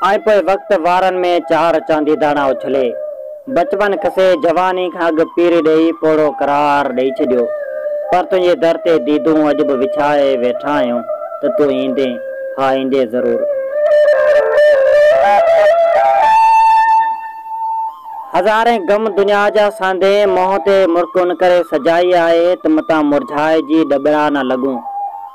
۽ پوء وقت وارن ۾ چار چاندي داڻا اڇلي، بچپن کسي، جواني کان اڳ پيري ڏيئي، پوڙهو قرار ڏيئي ڇڏيو. پر تنهنجي در تي ديدون اڄ به وڇائي ويٺا آهيون ته تون ايندين، ها ايندين ضرور. هزارين غم دنيا جا ساندهين منهن تي مرڪون ڪري سجائي آهي ته متان مرجهائجي ڏٻڙا نه لڳون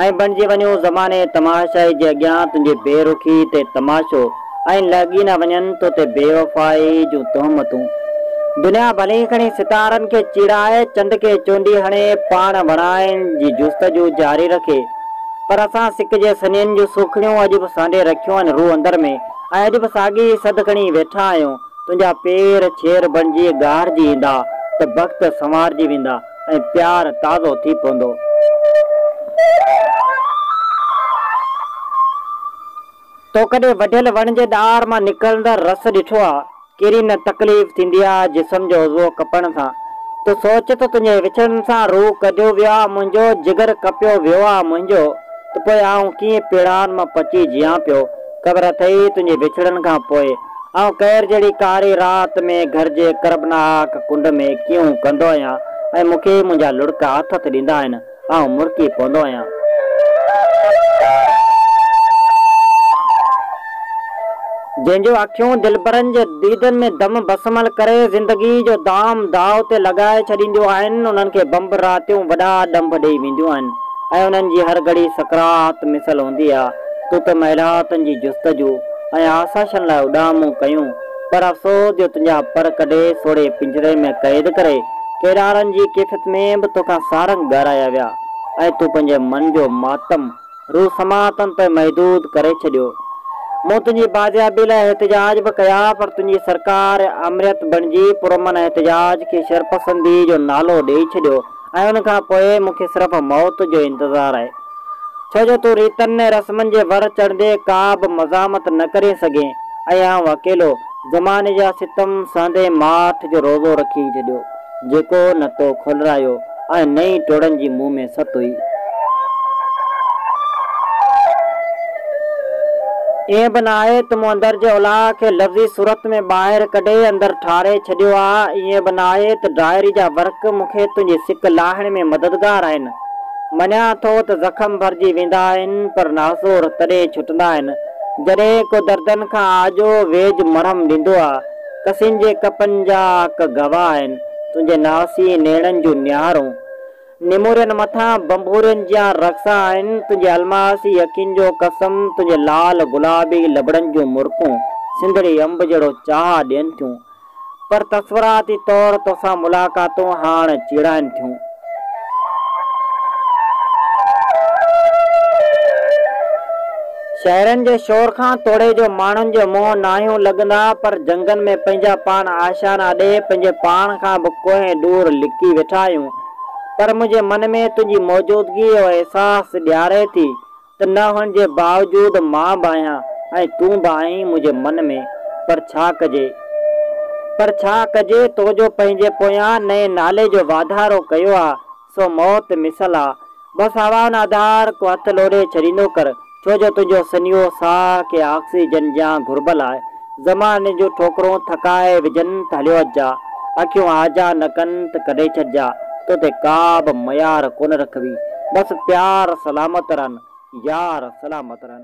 ۽ بڻجي وڃون زماني تماشائي جي اڳيان تنهنجي بي رخي تي تماشو ۽ لهڳي نه وڃن تو تي بيوفائي جون تهمتون دنيا ڀلي کڻي ستارن کي چيڙائي چنڊ کي چونڊي هڻي پاڻ وڻائن جي جستجو جاري رکي پر اسان سڪ جي سڃين جون سوکڙيون اڄ به سانڍي رکيون آهن روح اندر ۾ ۽ اڄ به ساڳي ئي سڌ کڻي ويٺا آهيون تنهنجا پير ڇير بڻجي ڳاهرجي ايندا ته بخت سنوارجي ويندا ۽ پيار تازو ٿي پوندو. تو ڪڏهن وڍيل وڻ جي ڏار مان نڪرندڙ رس ڏٺو آ؟ ڪيري نه تڪليف ٿيندي آ جسم جو عضوو ڪپڻ سان. تو سوچ ته تنهنجي وڇڙڻ سان روح ڪڍيو ويو آ منهنجو، جگر ڪپيو ويو آ منهنجو، ته پوء آئون ڪيئن پيڙان مان پچي جيان پيو؟ خبر اٿئي تنهنجي وڇڙڻ کان پوء آئون قهر جهڙي ڪاري رات ۾ گهر جي ڪربناڪ ڪنڊ ۾ ڪيئون ڪندو آهيان ۽ مون کي منهنجا لڙڪ آٿت ڏيندا آهن، آئون مرڪي پوندو آهيان. جنهن جون اکيون دلبرن جي ديدن ۾ دم بسمل ڪري زندگي جو دام داء تي لڳائي ڇڏينديون آهن، انهن کي بمب راتيون وڏا ڏنڀ ڏيئي وينديون آهن. ۽ انهن جي هر گهڙي سڪرات مثل هوندي آ، تون ته محلاتن جي جستجو ۽ آسائشن لاء اڏامون ڪيون، پر افسوس جو تنهنجا پر ڪڍي سوڙهي پڃري ۾ قيد ڪري، ڪيڏارن جي ڪيفيت ۾ به توکان سارنگ ڳارايا ويا ۽ تون پنهنجي من جو ماتم روح سماعتن تائين محدود ڪري ڇڏيو. مون تنهنجي بازيابي لاء احتجاج به ڪيا، پر تنهنجي سرڪار آمريت بڻجي پرامن احتجاج کي شرپسندي جو نالو ڏيئي ڇڏيو، ۽ ان کان پوء مون کي صرف موت جو انتظار آهي، ڇو جو تون ريتن ۽ رسمن جي ور چڙهندي ڪا به مزاحمت نه ڪرين سگهين ۽ آئون اڪيلو زماني جا ستم سهندي ماٺ جو روزو رکي ڇڏيو، جيڪو نه تو کولرايو ۽ نه ئي ٽوڙن جي مون ۾ ست هئي. ائين به نه آهي ته مون اندر جي الاهه کي لفظي صورت ۾ ٻاهر ڪڍي اندر ٺاري ڇڏيو آ، ائين به نه آهي ته ڊائري جا ورق مون کي تنهنجي سڪ لاهڻ ۾ مددگار آهن. مڃان ٿو ته زخم ڀرجي ويندا آهن پر ناسور تڏهن ڇٽندا آهن جڏهن ڪو دردن کان آجو ويجهه مرهم ڏيندو آ. ڪسين جي ڪپن جا اک گواهه آهن تنهنجي ناسين نيڻن جون نهارون. نمورن مٿان ڀنڀورين جيان رقصا آهن تنهنجي الماسي اکين جو قسم تنهنجي لال گلابي لبڙن جون مرڪون سنڌڙي انب جهڙو چاهه ڏين ٿيون پر تصوراتي طور توسان ملاقاتون هاڻ چيڙائن ٿيون. شهرن جي شور کان توڙي جو ماڻهن جي منهن ناهيون لڳندا پر جهنگن ۾ پنهنجا پاڻ آشيانا ڏيهه پنهنجي پاڻ کان به ڪوهين ڏور لڪي ويٺا آهيون پر منهنجي من ۾ تنهنجي موجودگيء جو احساس ڏياري ٿي ته نه هئڻ جي باوجود مان به آهيان ۽ تون به آهين منهنجي من ۾، پر ڇا ڪجي؟ پر ڇا ڪجي، تو جو پنهنجي پويان نئين نالي جو واڌارو ڪيو آ، سو موت مثل آ، بس هوائن آڌار ڪو هٿ لوڏي ڇڏيندو ڪر، ڇو جو تنهنجو سنيهو ساهه کي آڪسيجن جيان گهربل آهي. زماني جون ٺوڪرون ٿڪائي وجهن ته هليو اچجا، اکيون هاجا نه ڪن ته ڪڍي ڇڏجا، تو تي ڪا به ميار ڪونه رکبي. بس پيار سلامت رهن، يار سلامت رهن.